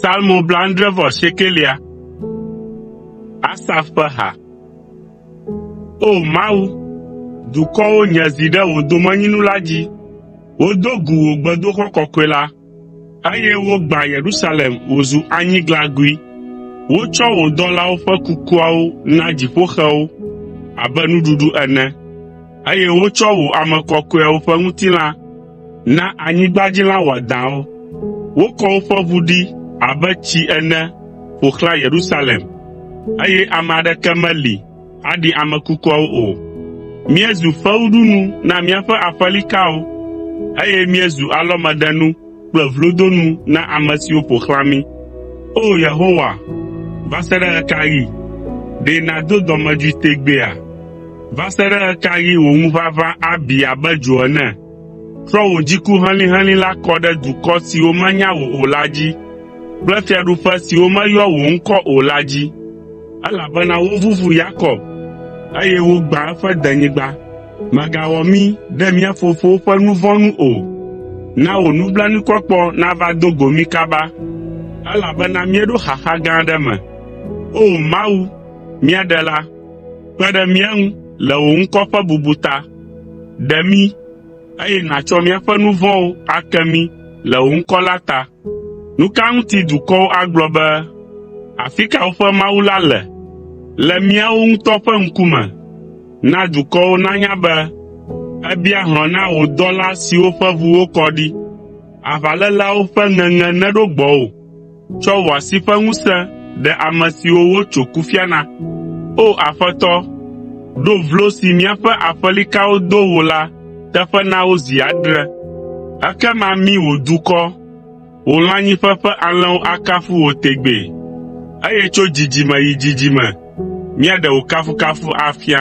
Salmo blaadre vɔ siekelia. Asaf ƒe ha. O Mawu, dukɔwo nye zi ɖe wò domenyinu la dzi. Wodo gu wò gbedoxɔ kɔkɔe la, eye wogbã Yerusalem wòzu anyiglagui. Wotsɔ wò dɔlawo ƒe kukuawo na dziƒoxewo abe nuɖuɖu ene. eye wotsɔ wò ame kɔkɔeawo ƒe ŋutilã na anyigbadzilã wɔadãwo. Wokɔ woƒe ʋu ɖi abe tsi ene ƒo xlã Yerusalem, eye ame aɖeke meli aɖi ame kukuawo o. Míezu fewuɖunu na míaƒe aƒelikawo, eye míezu alɔmeɖenu kple vlodonu na ame siwo ƒo xlã mí. O Yehowa, va se ɖe ɣe ka ɣi? Ɖe nàdo dɔmedzoe tegbeea? Va se ɖe ɣe ka ɣi wò ŋuʋaʋã abi abe dzo ene? Trɔ wò dziku helĩhelĩ la kɔ ɖe dukɔ siwo menya wò o la dzi kple fiaɖuƒe siwo meyɔ wò ŋkɔ o la dzi. Elabena woʋuʋu Yakob, eye wogbã eƒe denyigba. Mègawɔ mí ɖe mía fofowo ƒe nu vɔ̃ nu o. Na wò nublanuikpɔkpɔ nava do go mí kaba, elabena míeɖo xaxa gã aɖe me. O Mawu, mía Ɖela, kpe ɖe mía ŋu le wò ŋkɔ ƒe bubu ta. Ɖe mí, eye nàtsɔ míaƒe nu vɔ̃wo ake mí le wò ŋkɔ la ta. Nu ka ŋuti dukɔwo agblɔ be, “Afi ka woƒe Mawu la le?” Le míawo ŋutɔ ƒe ŋkume. Na dukɔwo nanya be èbia hlɔ̃ na wò dɔla siwo ƒe ʋu wokɔ ɖi. Aʋaléleawo ƒe ŋeŋe neɖo gbɔwò. Tsɔ wò asi ƒe ŋusẽ ɖe ame siwo wotso kufia na. O Aƒetɔ, ɖo vlo si míaƒe aƒelikawo do wò la teƒe na wo zi adre. Ekema mi wò dukɔ, wò lãnyiƒe ƒe alẽwo akafu wò tegbee, eye tso dzidzime yi dzidzime míaɖe wò kafukafu afia.”